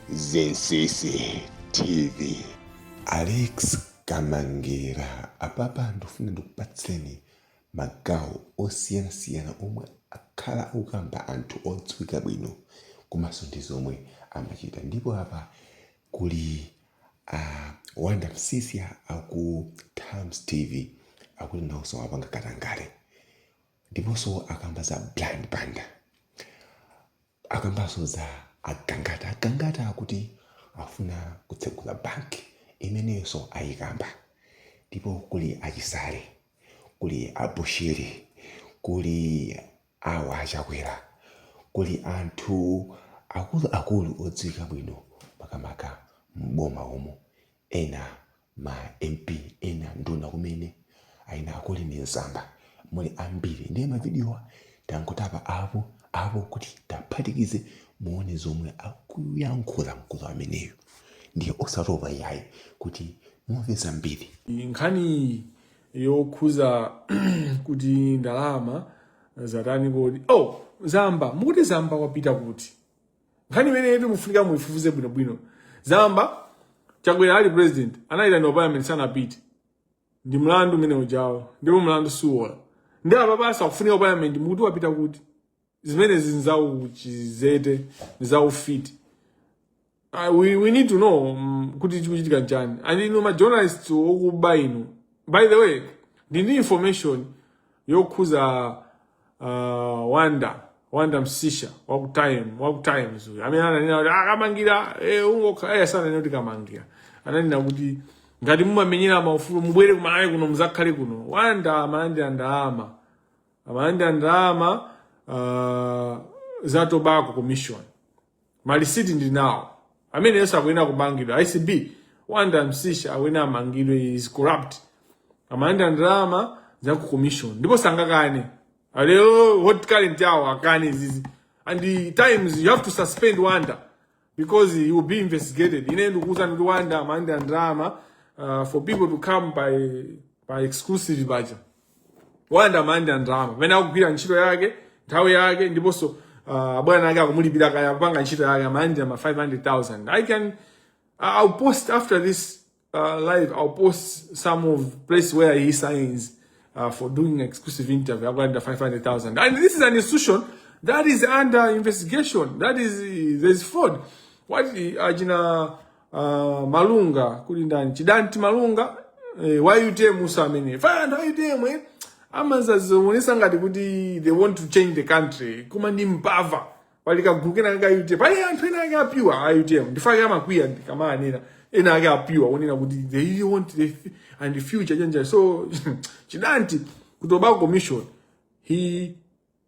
Zinsisi TV. Alex Kamangira apapa ndifuna ndikupatseni magawo osiyanasiyana omwe akhala akukamba anthu odziwika bwino komanso ndi zomwe amachita ndipo apa kuli a Wonder Msiska aku Times TV akuti nawonso amapanga katangale ndiponso akamba za Brian Banda akambanso za a Gangata. A Gangata akuti afuna kutsegula bank, imeneyonso ayikamba. Ndipo kuli a Chisale, kuli a Bushiri, kuli awa a Chakwera, kuli anthu akulu akulu odziwika bwino makamaka m'boma umu, ena ma mp ena nduna kumene mayina akulu ndi Zamba muli ambiri ndiye mavidiyowa tangotapa apo apo kuti taphatikize muone zomwe akuyankhula mkulu ameneyo ndiye osatopa yayi kuti mumve zambiri nkhani yokhuza kuti ndalama zatani kodi oh zamba mukuti zamba wapita kuti nkhani imeneyitu mufunika muifufuze bwinobwino zamba chakwera ali president anayitana a parliament sanapite ndi mlandu umene ujawo ndipo mlandu suwola ndi apa basi akufunika ku parliament mukuti wapita kuti zimenezi nzauchidzete nzaufiti Uh, we, we need to know um, kuti chikuchitika nchani and inu ma journalists okuba inu by the way ndi ndi information yokhuza uh, Wonder Wonder Msiska waku Time waku Times uyu amene ananena kuti a Kamangira eh, ungoka eh, sananena kuti kamangira ananena kuti ngati mumamenyera maufulu mubwere ku Malawi kuno muzakhale kuno Wonder amalandira ndalama amalandira ndalama uh, za tobacco commission malisiti ndi nawo ameneyonso akuyenera kumangidwa ACB Wonder Msiska akuyenera amangidwe he's corrupt amalandira ndalama za ku commission ndipo sangakane a lero Hot Current awo akane izizi and the times you have to suspend Wonder because he will be investigated ine ndikuwuzani kuti Wonder amalandira ndalama uh, for people to come pa pa exclusive paja Wonder amalandira ndalama pamene akugwira ntchito yake nthawi yake ndiponso ah, abwana ake akumulipira kaya akupanga ntchito yake amalandira ma 500000 i can I- i'll post after this uh, live i'll post some of place where he signs uh, for doing exclusive interview akulandira 500000 and this is an institution that is under investigation that is there's fraud what achina Uh, Malunga kuli ndani? Chidanti Malunga eh, wa UTM usa amene. Faya ndo UTM eh. Amazazionesa ngati kuti they want to change the country. Kuma ndi mbava. Pali kagulu kena ka UTM. Pali anthu ena ake abwino a UTM. Ndichifukwa amakwiya ndikamanena. Ena ake abwino onena kuti they want the and the future change. So chidanti ku Tobacco Commission he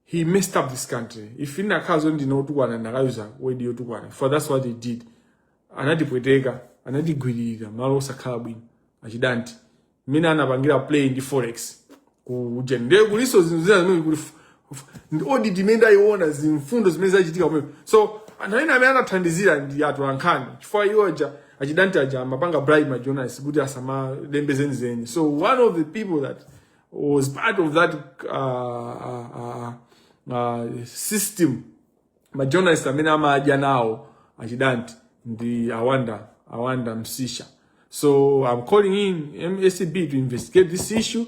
he messed up this country if inakhala zoti ndine otukwana ndikanayuza word yotukwana for that's what he did anatipweteka anatigwiririra malo osakhala bwino achidanti mmene anapangira play ndi forex kuja ndiye kuliso zinthu zina zimene kuli f- f- ndi audit imene ndayiona zimfundo zimene zachitika kumene so anthu amene amene anathandizira ndi anthu ankhani chifukwa iwo aja achidanti aja amapanga bribe ma journalists kuti asamalembe zenizeni so one of the people that was part of that uh, uh, uh, uh, system majournalist amene amadya nawo achidanti ndi awanda awanda msisha so i'm calling in msb to investigate this issue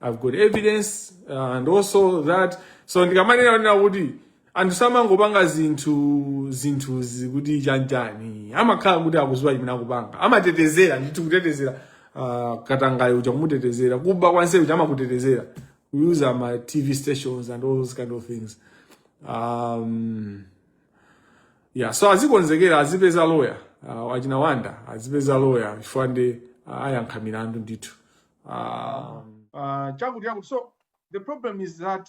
i've got evidence uh, and also that so ndikamanena kuti anthu samangopanga zinthu zinthu zikuti chanjani amakhala kuti akuziwa chimene akupanga amatetezera ndithu kutetezera uh, katangale uja kumutetezera kuba konse uja amakutetezera using ma tv stations and all those kind of things um, yeah so azikonzekera azipeza loya uh, achina wanda azipeza loya chifukwa nde uh, ayankha milandu ndithu um, uh, chakuti chakuti so the problem is that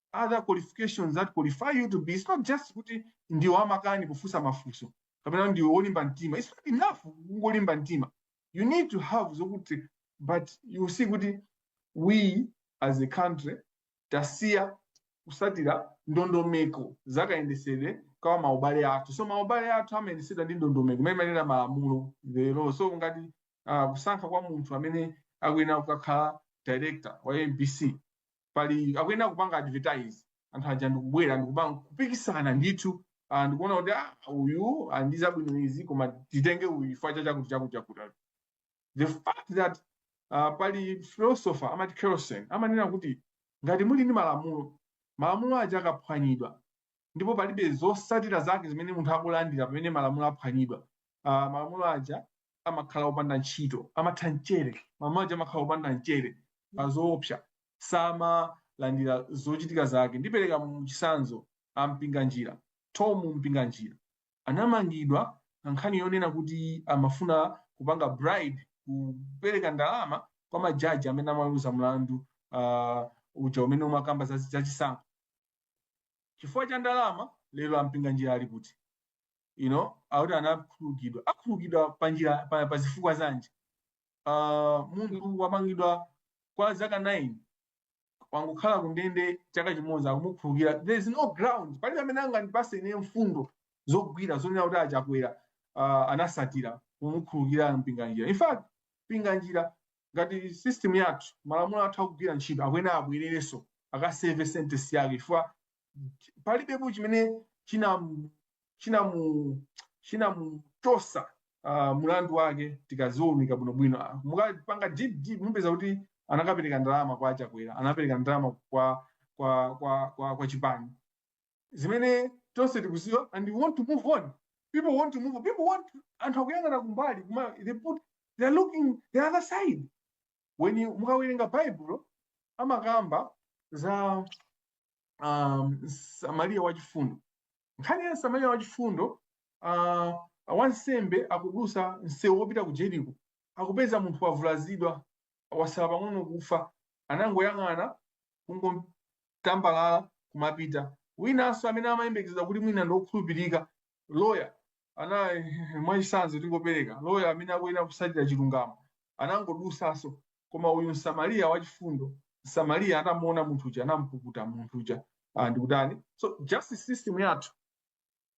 other qualifications that qualify you to be it's not just kuti ndiwe wamakani pofunsa mafunso kapena ndiwe wolimba mtima it's not enough kungolimba mtima you need to have zokuti but you see kuti we as a country tasiya kusatira ndondomeko zakayendesedwe ka mawayilesi athu so mawayilesi athu amayendesedwa ndi ndondomeko imene imanenedwa malamulo the law so ngati uh, kusankha kwa munthu amene akuyenera kukakhala director wa mbc pali akuyenera kupanga advertise anthu aja ndikubwera ndikupanga kupikisana ndithu ah, ndikuona kuti ah, uyu ah, ndi zabwino izi koma titenge uyu chifukwa cha chakuti chakuti chakuti the fact that ah, pali philosopher amati Kelsen amanena kuti ngati muli ndi malamulo malamulo aja akaphwanyidwa ndipo palibe zosatira zake zimene munthu akulandira pamene malamulo aphwanyidwa ah, malamulo aja amakhala opanda ntchito amatha mchere malamulo aja amakhala opanda mchere osaopsa samalandira zochitika zake ndipereka chisanzo a mpinganjira tom mpinganjira anamangidwa pa nkhani yonena kuti amafuna kupanga bribe kupereka ndalama kwa majaji amene amaweruza mlandu uh, uja umene umakamba za za chisankho chifukwa cha ndalama lero ampinganjira ali kuti you know akuti anakhululukidwa akhululukidwa pa njira pa, pa zifukwa zanji uh, munthu wamangidwa kwa zaka 9 wangokhala kundende chaka chimodzi akumukhululukira there is no ground palibe amene angandipase ine mfundo zogwira zonena kuti achakwera uh, anasatira kumukhululukira Mpinganjira in fact Mpinganjira ngati system yathu malamulo athu akugwira ntchito akuyenera abwererenso akaseve sentence yake chifukwa palibepo chimene chinamu chinamu chinamuchosa uh, mulandu wake tikaziwunika bwinobwino Ah, mukapanga deep deep mupeza kuti anakapereka ndalama kwa achakwera anapereka ndalama kwa kwa kwa kwa, kwa chipani zimene tonse tikuziwa and we want to move on people want to move on. people want anthu akuyang'ana kumbali kuma they put they are looking the other side when you mukawerenga baibulo amakamba za um, msamariya wachifundo nkhani ya msamariya wachifundo uh, wansembe akudusa msewu wopita ku jeriko akupeza munthu wavulazidwa wasala pang'ono kufa anangoyang'ana kungolambalala kumapita winanso amene amayembekezedwa kuti mwina ndiokhulupirika loya ana mwachisanzo tingopereka loya amene akuyenera kusatira chilungamo anangodusaso koma uyu msamariya wachifundo msamariya atamuona munthu uja anampukuta munthu uja ah, ndikutani so justice system yathu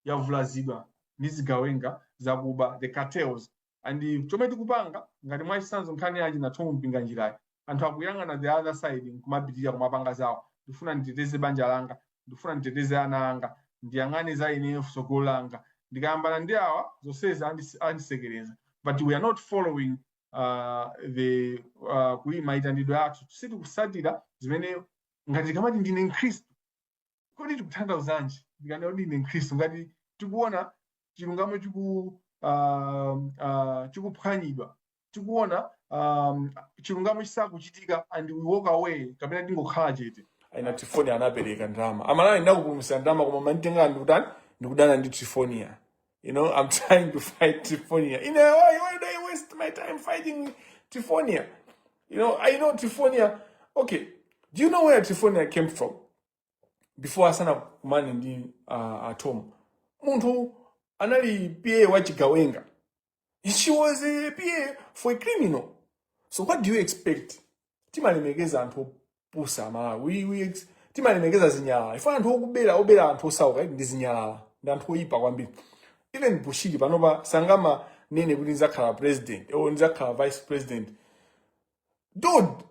yavulazidwa ndi zigawenga zakuba the cartels and chomwe tikupanga ngati mwachisanzo nkhani ya achina Thom Mpinganjirayi anthu akuyang'ana the other side nkumapitirira kumapanga zawo ndikufuna nditeteze banja langa ndikufuna nditeteze ana anga ndiyang'ane za ineyo tsogolo langa ndikayambana ndi awa zonsezi andis- andisekereza but we are not following uh, the uh, kuyi maitanidwe athu sitikusatira zimene ngati ndikamati ndine mkhristu Kodi tikutanthauzanji ndikanena kuti ndine Mkhristu ngati tikuona chilungamo chiku ah, ah, chikuphwanyidwa tikuona um, chilungamo chisakuchitika and we walk away kapena tingokhala chete achina trifonia anapereka ndalama amalawi ndakupulumusa ndalama koma akunditenga ndikutani ndikudana ndi trifonia you know i'm trying to fight trifonia ine why, why do i waste my time fighting trifonia you know i know trifonia okay do you know where trifonia came from before asanakumane ndi uh, a Tom munthu anali pa wa chigawenga she was a pa for a criminal so what do you expect timalemekeza anthu opusa amalawi We- we ex- timalemekeza zinyalala ife anthu okubera obera anthu osauka iti ndi zinyalala ndi anthu oyipa kwambiri even bushiri panopa sangamanene kuti ndizakhala president or ndizakhala vice president dude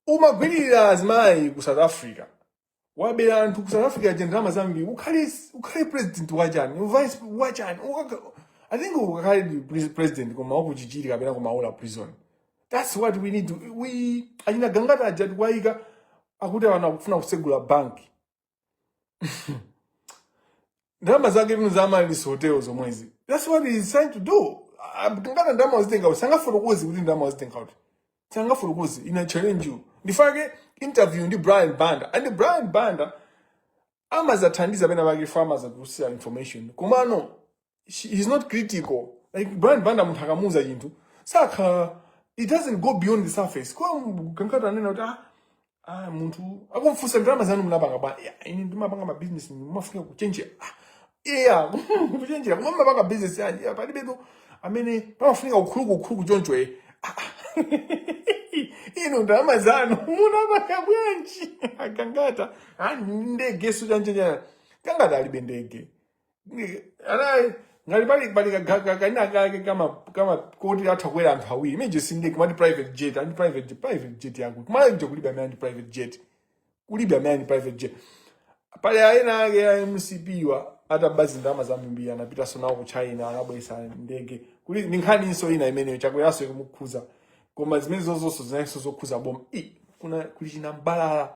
umagwirira azimayi ku south africa wabera anthu ku south africa aja ndalama zambiri ukhale ukhale president wachani uvice wachani I think ukakhale pre- president koma wakuchichiri kapena kumaula prison that's what we need to, we achina gangata aja tikuwayikawa akuti ana akufuna kusegula banki ndalama zake tino za malisi hotel zomwezi that's what he is trying to do Ah, nanga ndalama wazitenga kuti sangafotokoze kuti ndalama wazitenga kuti sangafotokoze I challenge you ndi fake interview ndi brian banda and brian banda amadzathandiza pena pake chifukwa amadzatulutsira information komano he's not critical like brian banda munthu akamuuza chinthu sakhala it doesn't go beyond the surface kwa gangata anena kuti ah, ah munthu akumfunsa ndalama zanu munapanga bwanji yeah, ine ndimapanga mabizinesi mumafunika kuchenjera ah, yeah kuchenjera koma mumapanga bizinesi yanji yeah, palibetu amene pamafunika ukhuluku ukhuluku choncho eh Ah, ah. ino ndalama zanu munapanga bwanji a gangata ah, ndege suchanjenya gangata alibe ndege anayi ngati pali pali kaga- ka- kaina kake kama kama koti atha kukwera anthu awiri imene sindege kumati private jet ali ndi private private jet yako kumalanje kulibe amene ali ndi private jet kulibe amene ali ndi private jet pali aina ake ya mcp aja ataba ndalama zambiri anapitaso nawo ku china anabweretsa ndege kuli ndi nkhaninso ina imeneyo chakweranso ikumukhudza koma zimene zozonso zinanso zokhudza boma i kuna kuli chinamlalala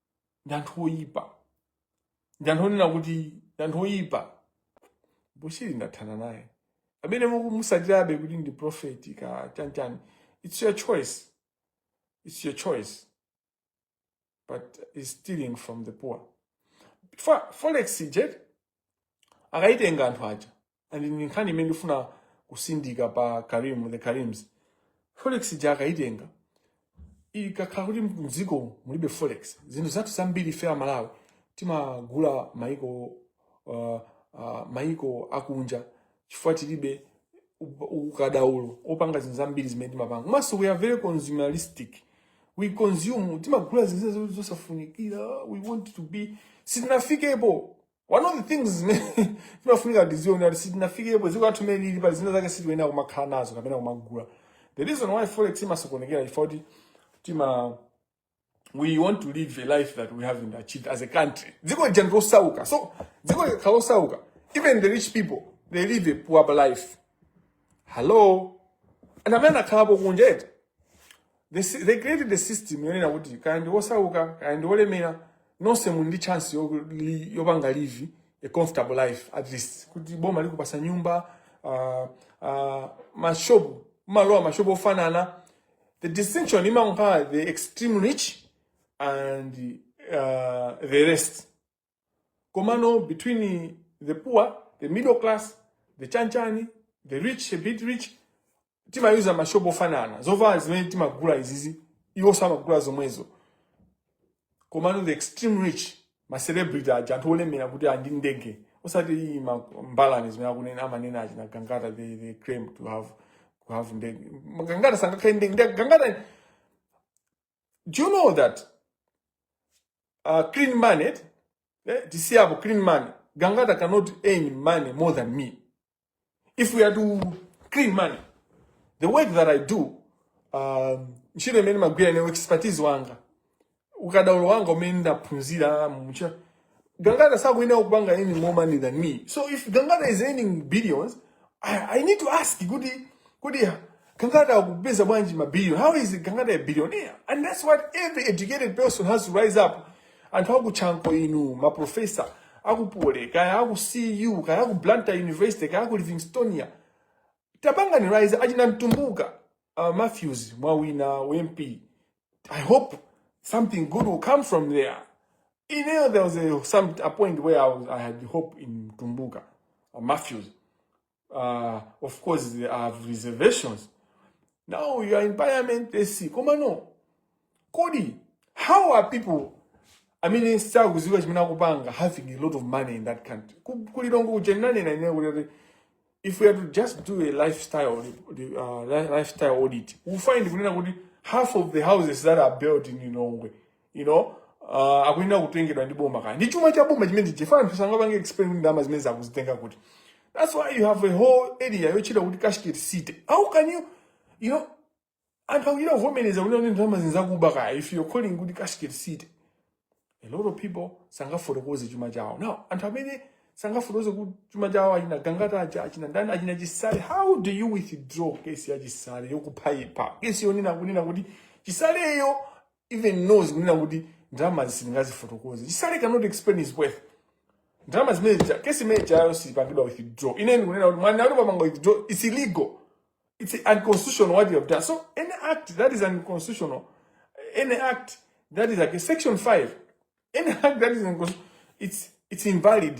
ndi anthu oyipa ndi anthu onena kuti ndi anthu oyipa bushiri ndathana naye amene mukumusatirabe kuti ndi profeti kaya chanichani it's your choice it's your choice but he's stealing from the poor for forex ija akayitenga anthu aja and ndi nkhani imene ndifuna kutsindika pa karim the karims forex ija akayitenga ikakhala kuti mdziko mulibe forex zinthu zathu zambiri ife amalawi timagula maiko uh, uh, maiko akunja chifukwa tilibe u- ukadaulo opanga zinthu zambiri zimene timapanga komanso we are very consumeristic we consume timagula zinthu zimene zosafunikira we want to be sitinafikepo one of the things zimene timafunika tizione kuti sitinafikepo dziko lathu mmene lilili pali zina zake sitikuyenera kumakhala nazo kapena kumagula the reason why forex imasokonekera chifukwa kuti tima we want to live a life that we haven't achieved as a country dziko lija ndilosauka so dziko likakhala losauka even the rich people they live a poor life hello and amene akhalapo kunja eti they, si- they created the system yonena kuti kaya ndi wosauka kaya ndi wolemera nonse muli ndi chance yo- li- yopanga live a comfortable life at least kuti boma likupasa nyumba uh, uh, mashopu mumalowa mashopu ofanana the distinction among her, the extreme rich and uh, the rest. Komano between the poor, the middle class, the chanchani, the rich, a bit rich, tima yuza mashobo fanana. Zova zimene timagula izizi, iwo samagula zomwezo. komano the extreme rich ma celebrity aja anthu olemera kuti ali ndi ndege osati iyi ma mbalame zimene akunena amanena achina gangata they, they claim to have to have ndege gangata sangakhale ndi ndege gangata do you know that uh, clean money eh, tisiyapo clean money gangata cannot earn money more than me if we are to clean money the work that i do um, ntchito imene magwira ine expertise wanga ukadaulo wanga umene ndaphunzira mucha gangata sakuyenera kupanga earning more money than me so if gangata is earning billions i, I need to ask kuti kuti Kangata akupeza bwanji ma billion? How is Kangata a billionaire? And that's what every educated person has to rise up. Anthu akutchanko inu, ma professor, akupole, kaya aku CU, kaya aku Blantyre University, kaya aku Livingstonia. Tabanga ni rise, ajina mtumbuka. Uh, Matthews, Mwawina, UMP. I hope something good will come from there. You know, there was a, some, a point where I, was, I had hope in Tumbuka, or Matthews. uh, of course they have reservations now you are in parliament they see koma no kodi how are people I mean, amene sakuziwa chimene akupanga having a lot of money in that country kulilongo kujenanena ine kuti if we had to just do a lifestyle uh, lifestyle audit we find kunena kuti half of the houses that are built in Lilongwe you know uh, akuyenera kutengedwa ndi boma kaya ndi chuma cha boma chimene chifukwa anthu sangapange explain kuti ndalama zimenezo akuzitenga kuti that's why you have a whole area yotchedwa kuti cashgate city how can you you know anthu akuchita kuvomereza kunena kuti ndalamazi nzakuba kaya if you're calling kuti cashgate city a lot of people sangafotokoze chuma chawo now anthu amene sangafotokoze kuti chuma chawo achina gangata aja achina ndani achina chisale how do you withdraw kesi ya chisale yokuphaipa kesi yonena kunena kuti chisaleyo even knows kunena kuti ndalamazi sindingazifotokoze chisale cannot explain his wealth ndalama zimene zija kesi imene ijayo sipangidwa withdraw ine ndikunena kuti mwanena kuti tapanga withdraw it's illegal it's unconstitutional what you have done so any act that is unconstitutional any act that is like a section 5 any act that is unconstitutional it's it's invalid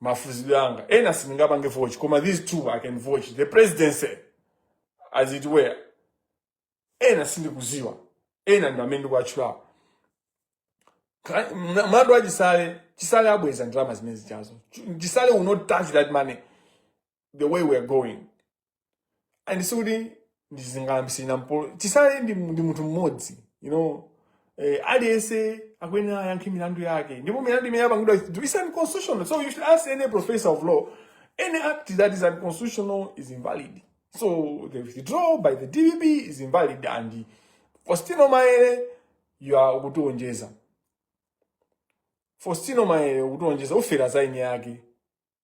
mafuzidwe anga ena sindingapange vouch koma these two i can vouch the presidency as it were ena sindikuziwa ena ndi amene ndikuwatchulapo Ka- mna- mlandu wa chisale chisale abweza ndalama zimene zijazo chisale will not touch that money the way we are going and sikuti ndizingayambisirina mpolo chisale ndi, ndi munthu mmodzi you know eh, aliyense akuyenera ayankhe milandu yake ndipo milandu imene yapangidwa is unconstitutional so you should ask any professor of law any act that is unconstitutional is invalid so the withdrawal by the dpp is invalid and fostino maele you are ukutionjeza fostino maele ukutionjeza ufera za eni ake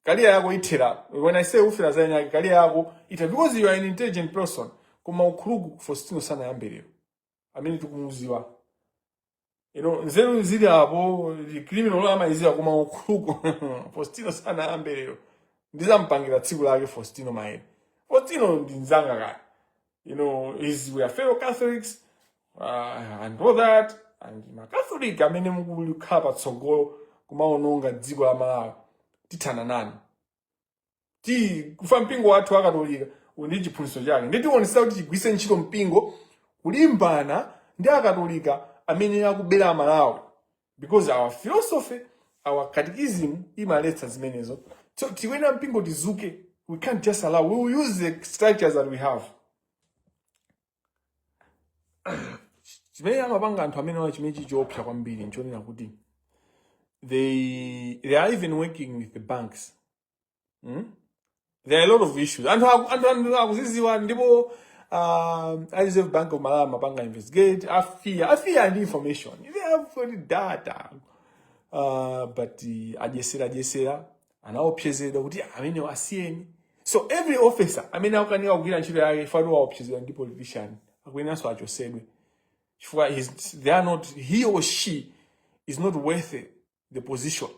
career yako ithera when i say ufera za eni ake career yako ithera because you are an intelligent person koma ukhuluku fostino sanayambe lero amene tikumuziwa you know nzeru zili apo ndi criminal amayiziwa koma ukhuluku fostino sanayambe lero ndizampangira tsiku lake fostino maele fostino ndi mzanga kale you know, is we are fellow Catholics uh, and all that and macatholic amene mukulikhala patsogolo kumaononga dziko la malawi tithana nanu chifukwa mpingo wathu wakatolika uli ndi chiphunzitso chake ndiye tionetsetsa kuti tigwiritse ntchito mpingo kulimbana ndi akatolika amene akubera amalawi because our philosophy our catechism imaletsa zimenezo so inu a mpingo tizuke we can't just allow we will use the structures that we have chimene amapanga anthu amenewa chimene chichiopsa kwambiri nchonena kuti they they are even working with the banks mm? there are a lot of issues anthu aku- anthu anthu akuziziwa ndipo uh, a reserve bank of malawi amapanga investigate a FIA a FIA ali ndi information they have already data uh, but uh, akayesera akayesera anaopsezedwa kuti amenewo asiyeni so every officer amene akukanika kugwira ntchito yake fatu waopsezedwa ndi politician akuyenanso achosedwe chifukwa he's- they are not he or she is not worth the position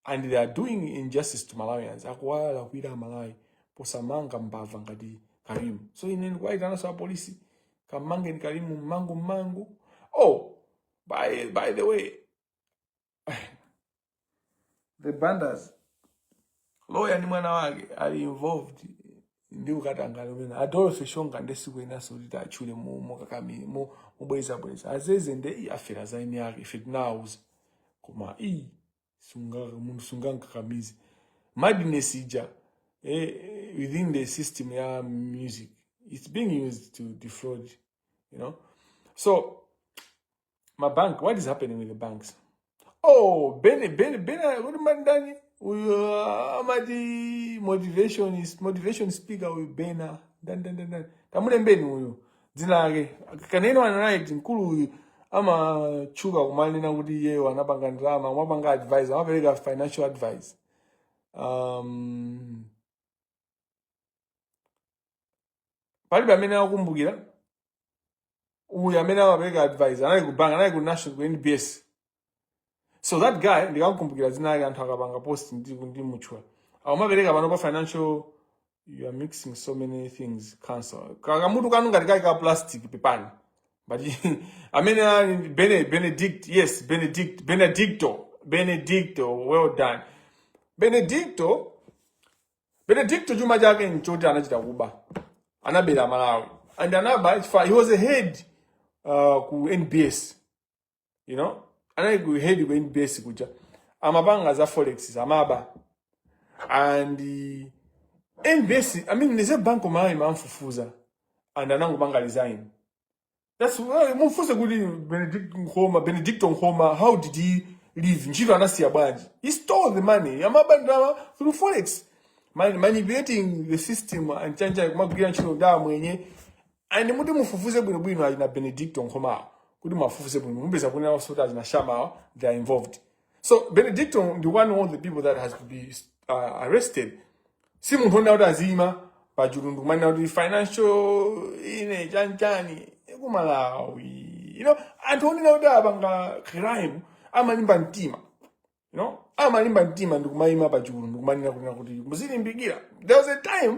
and they are doing injustice to malawians akuwalakwira amalawi posamanga mbava ngati karimu so ine ndikuwayitananso apolisi kamangeni karimu mwachangu mwachangu oh by, by the way the banders lawyer ndi mwana wake ali involved ndi katangale ameneyu adolfe shonga nde sikuyeneranso kuti titatchule mukakamiri mubwezabweza azeze nde i afera zaini yake ife tinawuza koma iyi munthu sungankakamize madness ija eh, within the system ya music it's being used to defraud you know so my bank what is happening with the banks oh bene bene bene kodi mandani uyo amati motivation is motivation speaker uyu bena ndandandandani tamulembeni uyu dzina lake kaneneni anali mkulu uyu amatchuka kumanena kuti iyeyo anapanga ndalama kumapanga advice amapereka financial advice um, palibe amene akumbukira uyu amene amapereka advice anali ku bank anali ku national ku nbs so that guy ndikakumbukira dzina lake anthu akapanga post ndi ndimutchula akumapereka pano pa financial you are mixing so many things Kanselu kakamutu kanu ngati kali ka plastic pepani but amene ali ndi Bene- benedict yes benedict benedicto benedicto well done benedicto benedicto chuma chake nchoti anachita kuba anabera amalawi and anaba chifukwa he was a head uh, ku nbs you know anali ku head ku NBS kuja amapanga za forex amaba and uh, NBS I mean Reserve Bank of Malawi imamufufuza and anangopanga resign that's why mufufuze kuti Benedict Nkhoma Benedicto Nkhoma how did he leave ntchito anasiya bwanji he stole the money amaba ndalama through forex Man- manipulating the system and chani cha kumagwira ntchito ndamwenye and mutati mufufuze bwinobwino achina benedicto nkhomawo kuti mwafufuze bwino mupeza kunena zoti achina shamawo they are involved so benedicto ndi one of the people that has to be uh, arrested si munthu onena kuti aziyima pachulu ndi kumanena kuti financial ine chanchani kumalawi you know anthu onena kuti apanga crime amalimba mtima you know amalimba mtima ndikumayima pachulu ndi kumanena kunena kuti muzilimbikira there was a time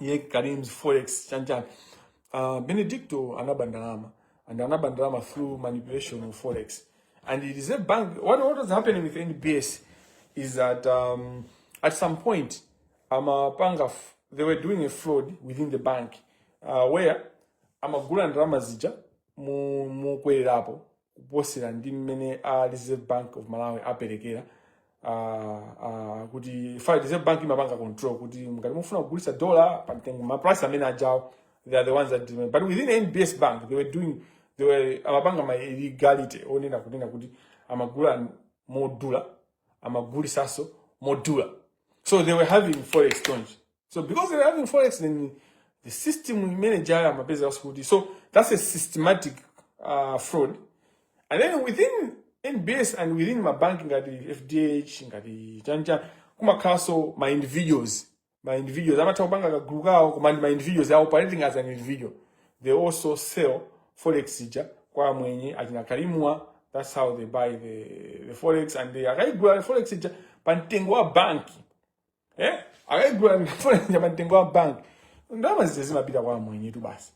ya karim's forex chanchani uh, benedicto anaba ndalama and anaba ndalama through manipulation of forex and it is a bank what, what was happening with nbs is that um, at some point amapanga f- they were doing a fraud within the bank uh, where amagula ndalama zija mo- mokwererapo kuposera ndi mmene a reserve bank of malawi aperekera ah, ah, kuti paja reserve bank imapanga control kuti ngati mufuna kugulitsa dollar pa mtengo ma price amene ajawo they are the ones that determine. but within nbs bank they were doing they were amapanga ma illegality onena kunena kuti amagula madola amagulisaso madola so they were having foreign exchange so because they're having forex then the system manager amapeza kuti so that's a systematic uh, fraud and then within nbs and within ma mabanki ngati fdh ngati chanchani kumakhalanso ma individuals ma individuals amatha kupanga kagulu kawo koma ndi ma individuals they are operating as an individual they also sell forex ija kwa amwenye achina kalimwa that's how they buy the, the forex and they akaigula the forex ija pa mtengo wa banki eh akayigula forex ija pa mtengo wa bank ndalama zija zimapita kwa amwenyetu basi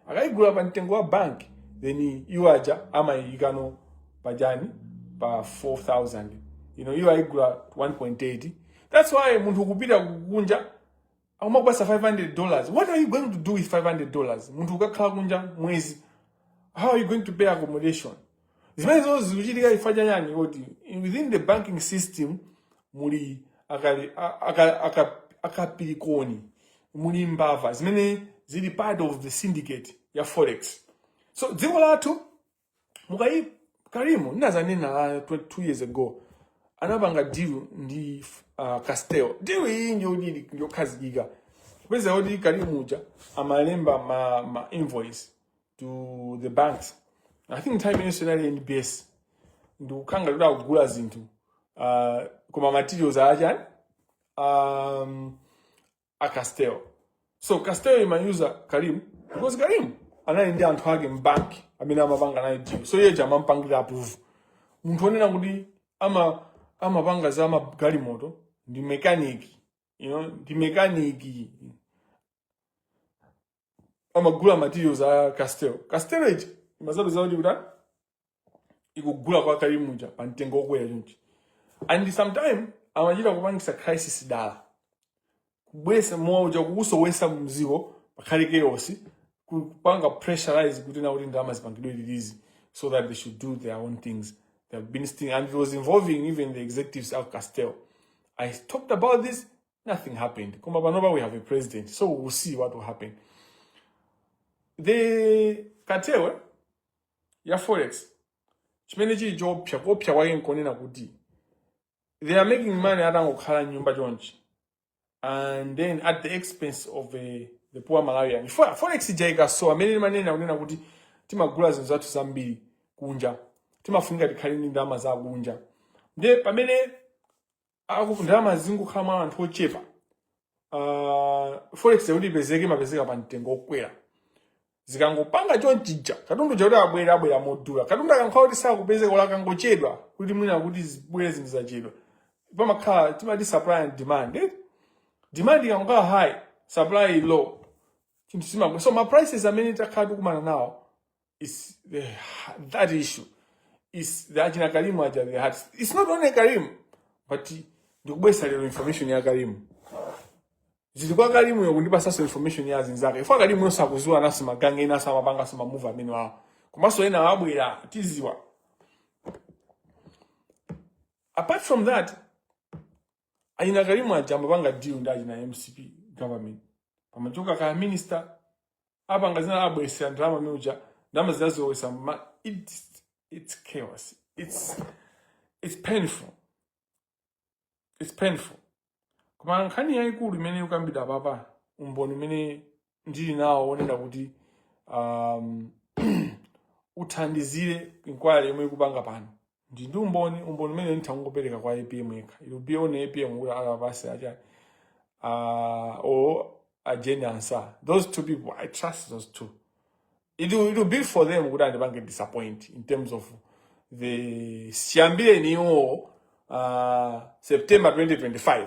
akayigula pa mtengo wa bank then iwo aja amayikano pajani pa 4000 you know iwo ayigula 1.8 that's why munthu kupita kunja akumampasa 500 dollars what are you going to do with 500 dollars munthu ukakhala kunja mwezi how are you going to pay accommodation zimene zonse zikuchitika chifukwa cha yani kuti within the banking system muli akali- a- aka- aka- akapirikoni muli mbava zimene zili part of the syndicate ya forex so dziko lathu mukaona karimu ndinazanena ah, 22 years ago anapanga deal ndi uh, castel deal iyi ndi deal njokhazikika kupeza kuti karimu uja amalemba ma, ma invoice to the banks i think nthawi imenenso inali nbs ndikunena kuti akugula zinthu uh, kaya ma materials achani um, a castel so castel imayuza karim because karim anali ndi anthu ake mbanki amene amapanga naye deal so iyeja amampangira approve munthu onena kuti ama amapanga za magalimoto ndi mekaniki you know, ndi mekaniki amagula materials a castel castel ija imazapeza kuti ikugula kwa karim uja pa mtengo wokwera chonchi and sometime amachita kupangisa crisis dala kubwesa mowa uja kuusowesa mudziko pakhale chaos kupanga pressurize kuti na kuti ndalama zipangidwe release so that they should do their own things they have been stealing and it was involving even the executives of castel i talked about this nothing happened koma panopa we have a president so we will see what will happen the cartel ya forex chimene chili choopsa kuopsa kwake nkonena kuti they are making money atangokhala mnyumba chonchi and then at the expense of uh, the poor malawian forex ija ikasowa amene ndimanena kunena kuti timagula zinthu zathu zambiri kunja timafunika tikhale ndi ndalama za kunja nde pamene aku- ndalama zingokhala mwa anthu ochepa uh, forex yakuti ipezeke imapezeka pa mtengo okwera zikangopanga chonchija katundu uja kuti abwere abwera modula katundu akankhala kuti sakupezeka ola akangochedwa kuti mwina kuti zibwere zinthu zachedwa pamakhala timati supply and demand eh? demand ikangokhala high supply low chinthu chimakwera so ma prices amene takhala tikumana nawo is the, that issue is the achina karimu aja the heart it's not only karimu but ndikubwesa lero information ya karimu zili kwa karimu yo kundipasaso information ya zinzake ifa karimu yo akuziwanaso magang ena amapangaso mamove amene wawo komanso ena wabwera tiziwa apart from that achina karimu aja amapanga deal ndi achina mcp government pamachoka kwa a minister apanga zina abwesera ndalama amene uja ndalama zinazowesa ma it's, it's chaos it's, it's painful it's painful koma nkhani yayikulu imene ikukambidwa papa umboni umene ndili nawo onena kuti um, uthandizire inquiry yomwe ikupanga pano ndi ndi umboni umboni umene ndithangopereka kwa apm yekha it will be on apm kuti akapase acha uh, or a jane ansah those two people i trust those two it will, it will be for them kuti andipange disappoint in terms of chiyambireni iwo uh, september 2025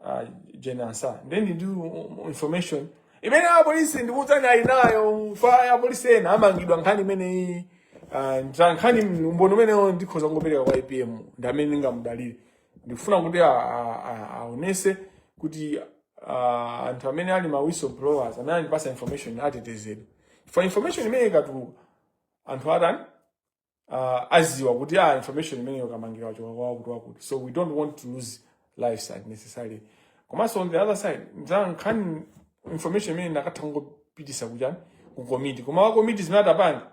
uh, Jane Ansah then ndi information imene apolisi ndikuwudzani ali nayo fa apolisi ena amangidwa nkhani imeneyi uh, nta- nkhani umboni umenewo ndikhoza kungopereka kwa APM ndi amene ndingamudalire ndikufuna kuti a- a- a- aonese kuti uh, anthu amene ali ma whistleblowers amene andipasa information atetezedwe for information imene ikatuluka anthu atani uh, aziwa kuti ah, information imeneyo kamangira wachokera kwa wakuti wakuti so we don't want to lose lives unnecessarily komanso on the other side za nkhani information imene ndikatha kungopitisa kujani ku committee koma wa committee zimene atapanga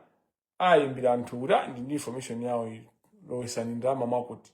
ayimbira anthu kuti ah, ndi ndi information yawo iyi lowesani ndalama mwakuti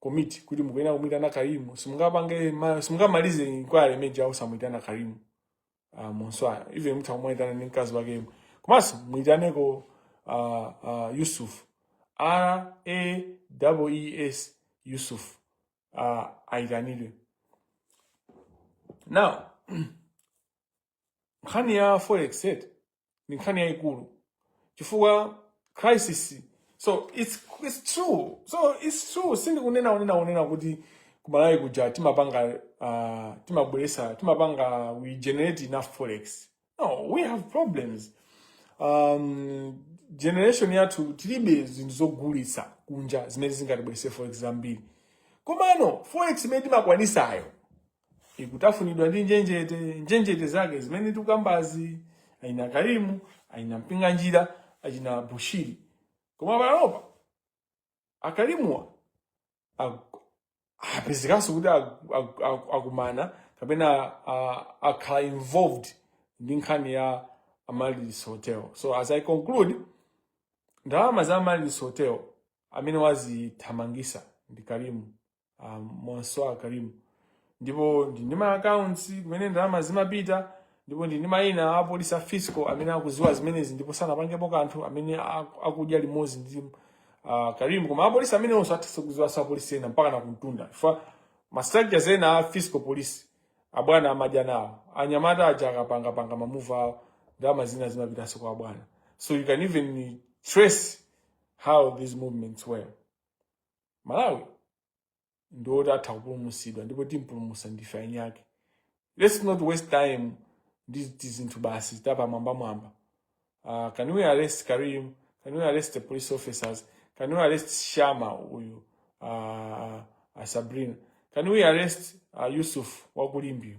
komiti kuti mukuyenera kumuyitana karimu simungapange ma- simungamalize inquiry imeneyi osamuyitana karimu uh, monswaya even mutha kumuyitana ndi mkazi wake yemwe komanso muyitaneko uh, uh, yusuf r a w e s yusuf uh, ayitanidwe now nkhani ya forex eti ndi nkhani yayikulu chifukwa crisis so it's, it's true so it's true sindikunena kunena kunena kuti kumalawi kuja timapanga uh, timabweresa timapanga we generate enough forex no we have problems um, generation yathu tilibe zinthu zogulitsa kunja zimene zingatibwerese forex zambiri komano forex imene timakwanisayo ikutafunidwa ndi njenjete njenjete zake zimene tikukambazi achina karimu achina mpinganjira achina bushiri koma panopa akarimuwa aku- apezekanso kuti aku- aku- aku- akumana kapena a- akhala involved ndi nkhani ya amaryllis hotel so as i conclude ndalama za amaryllis hotel amene wazithamangisa ndi karimu um, monswa karimu ndipo ndili ndi ma accounts kumene ndalama zimapita ndipo ndili ndi mayina a polisi a fiscal amene akuziwa zimenezi ndipo sanapangepo kanthu amene aku- akudya limodzi ndi uh, karimu koma apolisi amene onse atha kuziwa za polisi ena mpakana kumtunda chifukwa ma structures ena a fiscal polisi abwana amadya nawo anyamata aja akapangapanga mamuva awo ndalama zina zimapitanso kwa abwana so you can even trace how these movements were malawi ndi oti atha kupulumutsidwa ndipo timpulumutsa ndife eni ake let's not waste time ndi tizinthu basi tapamwambamwamba uh, can we arrest karim can we arrest the police officers can we arrest shama uyu uh, uh, sabrina can we arrest uh, yusuf wakulimbeyo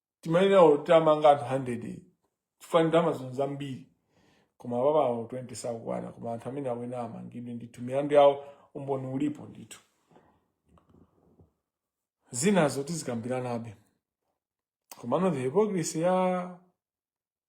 timayenera titamanga anthu 100 chifukwa ndalama zino zambiri koma apapa awo 20 sakukwana koma anthu amene akuyenera amangidwe ndithu milandu yawo umboni ulipo ndithu zinazo tizikambiranabe komano the hypocrisy ya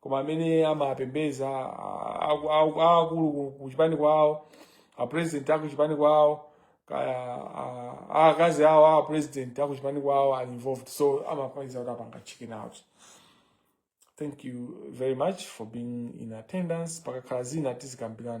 koma amene amapembeza aakulu ku- ku chipani kwawo apresident aku chipani kwawo kaya a- a- akazi awo a president aku chipani kwawo are involved so amamaliza kuti apanga chicken out thank you very much for being in attendance pakakhala zina tizikambirana